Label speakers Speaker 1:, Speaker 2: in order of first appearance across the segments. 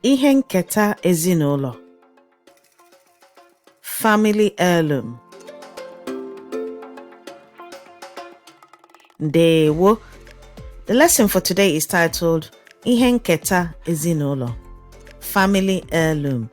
Speaker 1: Ihe nketa ezinụlọ Family Heirloom Ndewo The lesson for today is titled Ihe nketa ezinụlọ Family Heirloom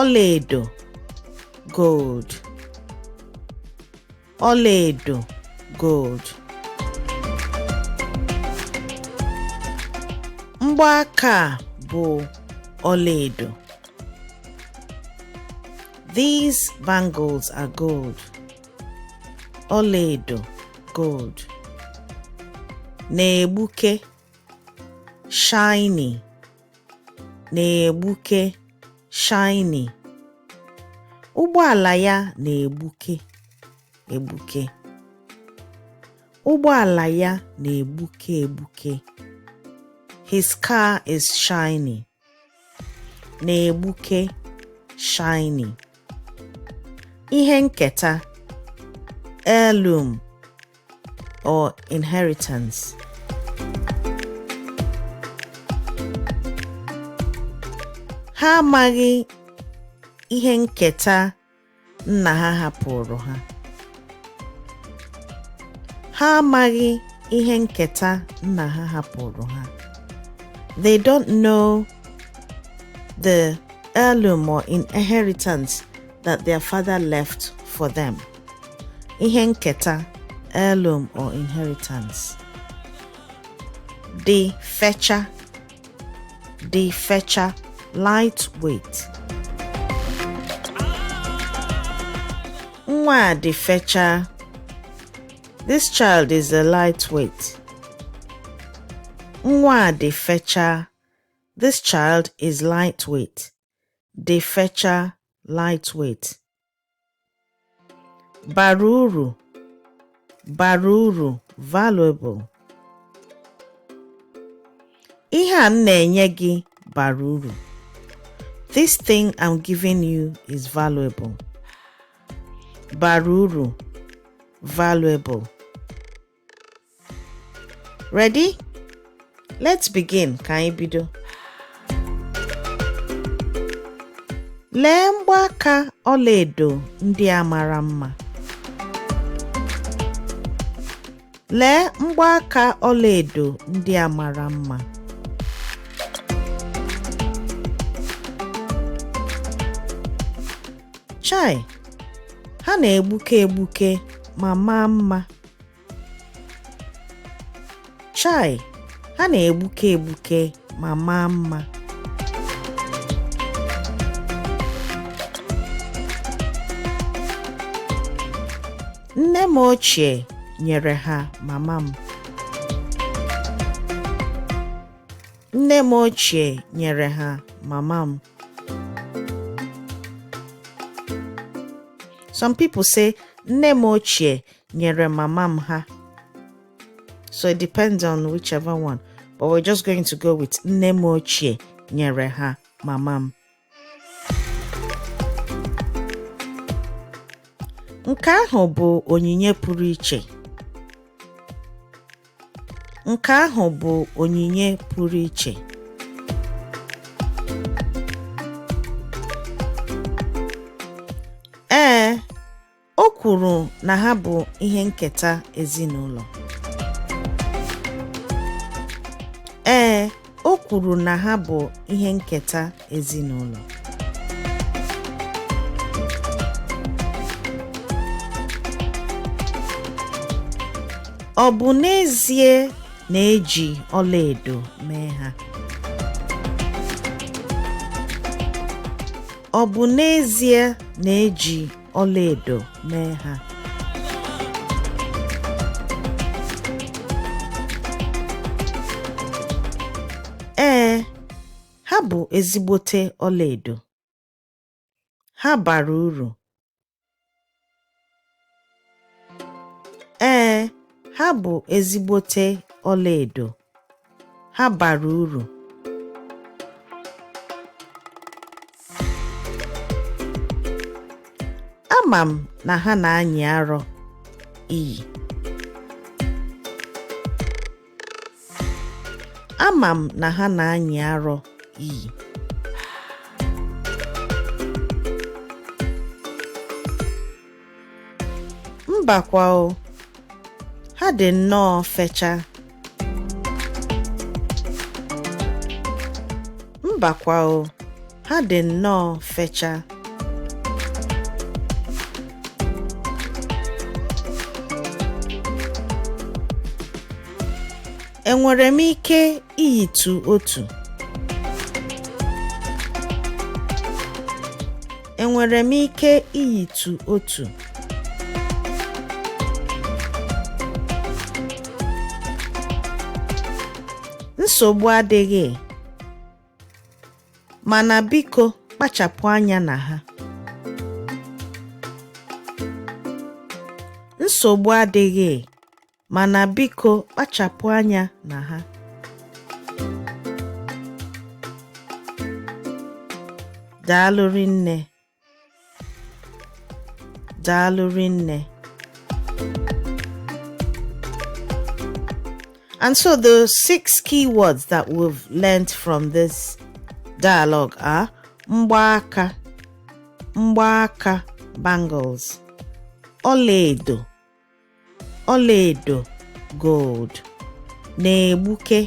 Speaker 1: ọlaedo gold ọlaedo gold mgbaaka a bụ ọlaedo these bangles are gold ọlaedo gold na-egbuke shiny na-egbuke shiny ụgbọala ya na-egbuke egbuke ụgbọala ya na-egbuke egbuke his car is shiny na-egbuke shiny ihe nketa heirloom or inheritance. Ha amaghị ihe nketa nna ha hapụrụ ha. Ha amaghị ihe nketa nna ha hapụrụ ha. They don't know the heirloom or inheritance that their father left for them. ihe nketa heirloom or inheritance dị fecha dị fecha lightweight nwa a dị fecha this child is lightweight nwa a dị fecha this child is lightweight dị fecha lightweight bara uru bara uru valuable ihe a m na-enye gị bara uru this thing i'm giving you is valuable bara uru valuable Ready? Let's begin ka anyị bido. Lee mgbaaka ọlaedo ndị a mara mma. Lee mgbaaka ọlaedo ndị a mara mma. Chai! Ha na-egbuke egbuke ma maa mma. Chai! Ha na-egbuke egbuke ma maa mma. Nne m ochie nyere ha mama m. Nne m ochie nyere ha mama m. Some people say nne m ochie nyere mama m ha so it depends on whichever one but we're just going to go with nne m ochie nyere ha mama m nke ahụ bụ onyinye pụrụ iche nke ahụ bụ onyinye pụrụ iche O kwuru na ha bụ ihe nketa ezinụlọ. Ee, o kwuru na ha bụ ihe nketa ezinụlọ. Ọ bụ n'ezie na eji ọlaedo mee ha? Ọ bụ n'ezie na eji ọlaedo mee ha ee ha bụ ezigbote ọlaedo ha bara uru Ee, ha bụ ezigbote ọlaedo. Ha bara uru. Ama m na ha na-anyị arọ iyi. Ama m na ha na-anyị arọ iyi. Mbakwa o, ha dị nnọọ fecha. Mbakwa o, ha dị nnọọ fecha. Enwere m ike iyitụ otu? Enwere m ike iyitụ otu? Nsogbu adịghị, mana biko kpachapụ anya na ha. Nsogbu adịghị. mana biko kpachapụ anya na ha. Daalụ rinne. Daalụ rinne. And so the six keywords that we've learned from this dialogue are mgbaaka, mgbaaka bangles, ọlaedo, ọlaedo gold na-egbuke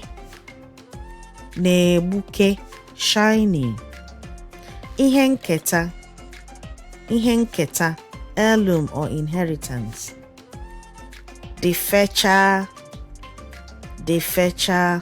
Speaker 1: na-egbuke shiny ihe nketa ihe nketa heirloom or inheritance dị fechaa dị fechaa